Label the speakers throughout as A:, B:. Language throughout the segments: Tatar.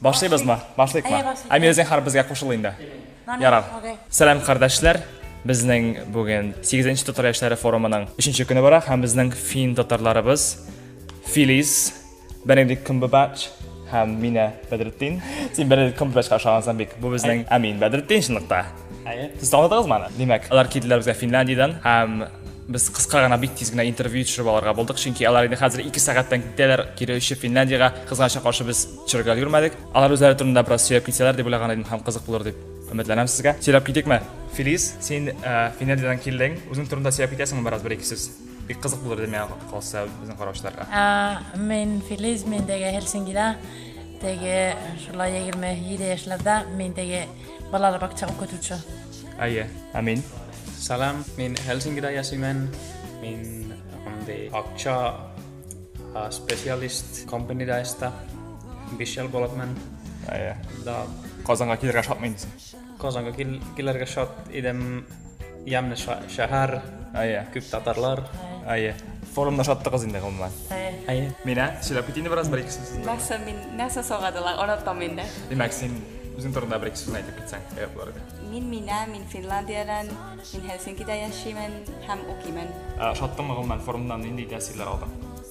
A: Башлыйбызмы? Башлыйкмы? Әйе, башлыйк. Әмир Зинхар безгә кушыл инде. Ярар. Сәлам кардәшләр. Безнең бүген 8-нче татар яшьләре форумының 3-нче көне бара һәм безнең фин татарларыбыз Филис, Бенедикт Кумбабач һәм Мина Бәдретдин. Син Бенедикт Кумбабачка ошагансың бик. Бу безнең Әмин Бәдретдин чынлыкта. Әйе, сез таныдыгыз маны? Димәк, алар килделәр безгә Финляндиядән һәм без кыска гына бик тиз генә интервью төшереп алырга булдык, чөнки алар инде хәзер 2 сәгатьтән китәләр кире очып Финляндиягә. Кызганычка каршы без төшерергә өлгермәдек. Алар үзләре турында бераз сөйләп китсәләр дип уйлаган идем һәм кызык булыр дип өметләнәм сезгә. Сөйләп китикме? Филис, син э, Финляндиядән килдең. Үзең турында сөйләп китәсеңме бераз бер-ике сүз? Бик кызык булыр иде миңа калса безнең караучыларга. Ә, Мин
B: Филис, мин теге Хельсингида, теге шулай 27 яшьләрдә, мин теге Балалар бакча укытучы. Әйе, ә
A: мин? Салам,
C: мин Хелсингида яшимен. Мин андый акча специалист компанида эшта. Биш ел булыпмын. Әйе. Да. Казанга килергә
A: шатмы инде? Казанга
C: килергә шат идем. Ямны шәһәр. Әйе. Күп татарлар. Әйе. Форумда
A: шаттыгыз инде гомумән. Әйе. Мина, сөйләп китинде бераз бер икесе сүз. Нәрсә мин, нәрсә
D: сорадылар, онытам инде. Димәк, син
A: үзең турында бер икесе сүз әйтеп китсәң, әйе буларга. Мин Мина, мин
D: Финляндиядән, мин Хельсинкида яшимен һәм укимен. Шаттымы гомумән
A: форумнан нинди тәэсирләр алдың?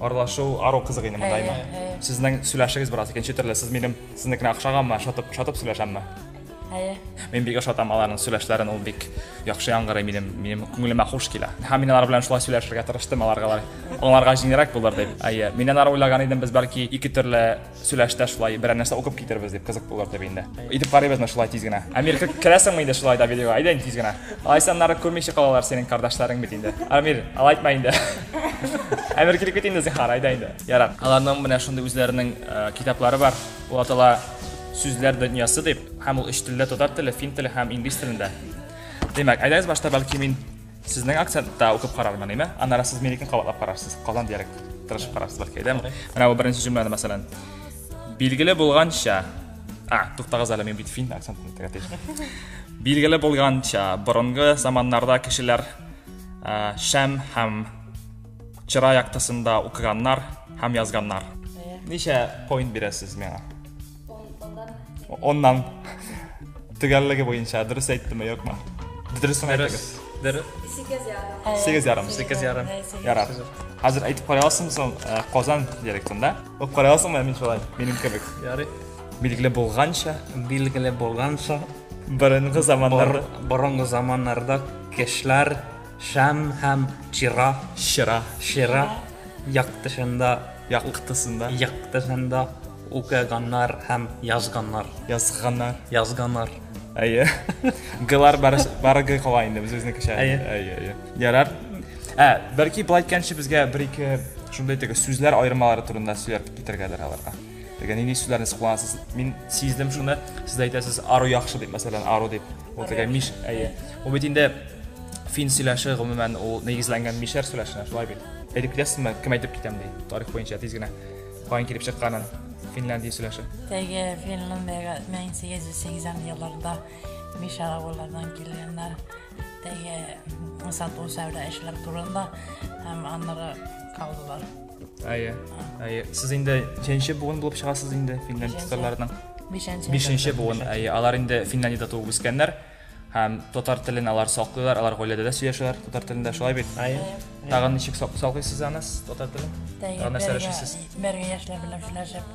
B: Аралашу ару
A: кызык инде монда имә. Сезнең сөйләшегез бераз икенче төрле. Сез минем сезнекенә охшаганмы? Шатып, шатып сөйләшәмме? Әйе. Мин бик ошатам аларның сөйләшләрен, ул бик яхшы яңгырый минем, минем күңелемә хуш килә. Һәм мин алар белән шулай сөйләшергә тырыштым, аларга аңларга җиңелрәк булыр дип. Әйе, мин алар уйлаган идем, без бәлки ике төрле сөйләштә шулай берәр нәрсә укып китербез дип кызык булыр дип инде итеп карыйбыз мына шулай тиз генә амир керәсеңме инде шулай да видеога әйдә инде тиз генә алайса аннары күрмичә калалар синең кардашларың бит инде амир алай итмә инде әмир килеп кит инде зинһар әйдә инде ярак аларның менә шундый үзләренең э, китаплары бар ул атала сүзләр дөньясы дип һәм ул өч телдә татар теле фин теле һәм инглиз телендә демәк әйдәгез башта бәлки мин Сезнең акцентта укып карармын, әйме? Аннары сез минекен кабатлап карарсыз. Казан диярек тырышып карарсыз бәлки, әйдәме? Менә бу беренче җөмләне, мәсәлән. Билгеле булганча, а, туктагыз әле, мин бит фин акцентын тегә тиеш. Билгеле булганча, борынгы заманнарда кешеләр ә, шәм һәм чыра яктысында укыганнар һәм язганнар. Ничә point бирәсез миңа? Оннан. Төгәллеге буенча дөрес әйттеме, юкмы? Дөресен әйтегез. Дөрес. Сигез ярым. Сигез ярым. Сигез ярым. Ярар. Хәзер әйтеп карый аласың соң э, Казан диалектында. Укып карый аласыңмы мин шулай? Минем кебек. Ярый.
C: Билгеле
A: булганча, билгеле булганча, борынгы заманнарда, борынгы
C: заманнарда кешеләр Шәм һәм чира. Чыра. Чыра яктысында. Яктысында. Яктысында укыганнар һәм язганнар. Язганнар. Язганнар.
A: Әйе. Гылар бары гы кала инде без үзенекечә. Әйе. Әйе, әйе. Ярар. Ә, бәлки болай әйткәнче безгә бер-ике шундый теге сүзләр аермалары турында сөйләп китергәдер аларга. Теге нинди сүзләрне сез кулланасыз? Мин сиздем шуны. Сез әйтәсез ару яхшы дип, мәсәлән, ару дип. Ул теге миш, әйе. Ул бит инде фин сөйләше гомумән ул нигезләнгән мишәр сөйләшенә, шулай бит. Әйтеп китәсезме, кем әйтеп китәм ди, тарих буенча тиз генә. Каян килеп чыкканын Финляндия сөйләше. Теге
B: Финляндиягә 1880 елларда мишәр авыллардан килгәннәр. Теге сату сәүдә эшләр турында һәм аннары калдылар. Әйе.
A: Әйе. Сез инде ничәнче буын булып чыгасыз инде Финлянд татарларының? Бишенче. Бишенче буын. Әйе, алар инде Финляндиядә туып үскәннәр һәм татар телен алар саклыйлар, алар гаиләдә дә сөйләшәләр татар телендә, шулай бит? Әйе. Тагын ничек саклыйсыз аны татар телен? Тагын нәрсә эшлисез?
B: Бергә яшьләр белән сөйләшеп.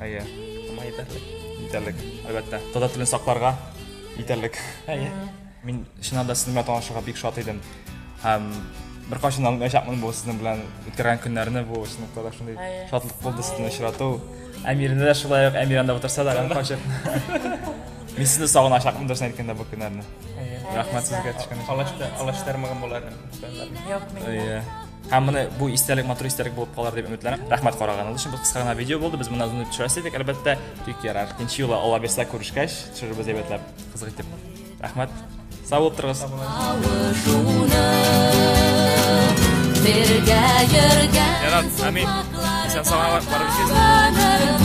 A: Әйе. Аңа җитәрлек. Җитәрлек, әлбәттә. Татар телен сакларга җитәрлек. Әйе. Мин чыннан да сезнең белән танышырга бик шат идем. Һәм беркайчан да онытмаячакмын бу сезнең белән үткәргән көннәрне, бу чынлыкта да шундый Әйе. шатлык булды сезне очрату. Әмирне дә шулай ук, Әмир анда утырса да, гәнә качып. Мин сезне сагыначакмын дөресен әйткәндә бу көннәрне. Әйе. Рәхмәт сезгә төшкән өчен. Алаш та, алаш тармагын буларым.
C: Юк, мин.
B: Әйе. Һәм моны бу
A: истәлек матур истәлек булып калыр дип өметләнәм. Рәхмәт караганыгыз өчен. Бу кыска гына видео булды. Без моны озын төшерәсе идек, әлбәттә. Тик ярар. Икенче юлы Алла бирсә күрешкәч, төшерербез әйбәтләп, кызык итеп. Рәхмәт. Сау булып торыгыз. Бергә йөргән. Ярар, амин. Исән сау булып барып